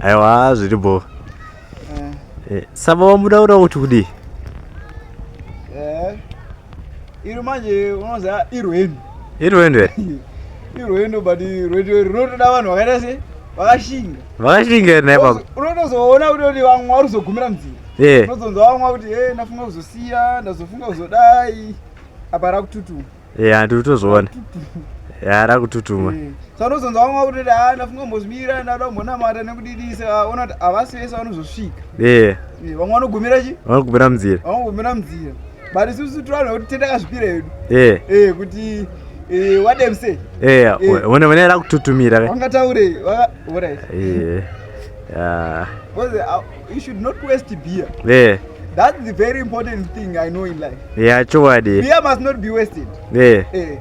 aiwa zviri bo eh. eh, saba wamuda ura kuti kudii eh, iri manje unoza irwendo irwendo irwendo but rwendo rinotoda vanhu vakaita se vakashinga vakashinga ere naipapo unotozoona kutoti vamwe vari kuzogumira mudzinga unozonzwa vamwe kuti e ndafunga kuzosiya ndazofunga kuzodai apa rakututuma ya tiri kutozviona yara kututuma eh, sa unozonza vamwe vakuti a ndafunga mbozvimira ndada kumbonamata nekudidisa ah, ona kuti havasi vese vanozosvika eh. Eh, vamwe vanogumira chi vanogumira munzira vanogumira munzira but isusu tivanhu vekuti tetakazvipira hedu kuti wademse one vane ra kututumira vangataure You should not waste beer. Yeah. That's the very important thing I know in life. Yeah, chokwadi. Beer must not be wasted. Yeah. Eh.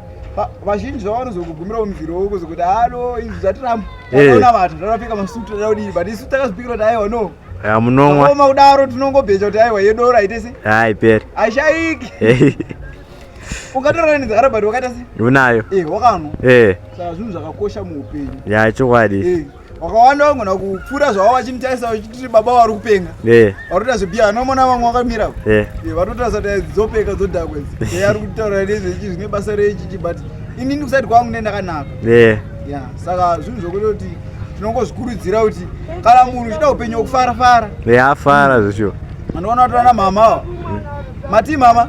vazhinji zvavanozokugumirawo muviri wavo kuzokuti halo izvi zvatiramba takaona eh. vanhu takapfeka masutu tada kudii but isu takazvipikira kuti aiwa no munonwa oma kudaro tinongobheja kuti aiwa yedoro haite se haiperi haishaiki eh. ungatorana nedzakara but wakaita se unayo eh, wakanwa saka zvinhu zvakakosha muupenyu ya chokwadi wakawanda wangona kupfuura zvava vachimutarisa vachititi baba vari kupenga eh. vatoita zvebia anomona vamwe vakamira eh. eh, vatotarisa kuti dzopeka dzodhakwa idzi e ari kutaura nezvechi zvine basa rechichi but inini kusati kwangu ne ndakanaka ya saka zvinhu zvokuita kuti tinongozvikurudzira kuti kana munhu uchida upenyu wekufara fara afara zvisho anoona kuti ana mama ava matii mama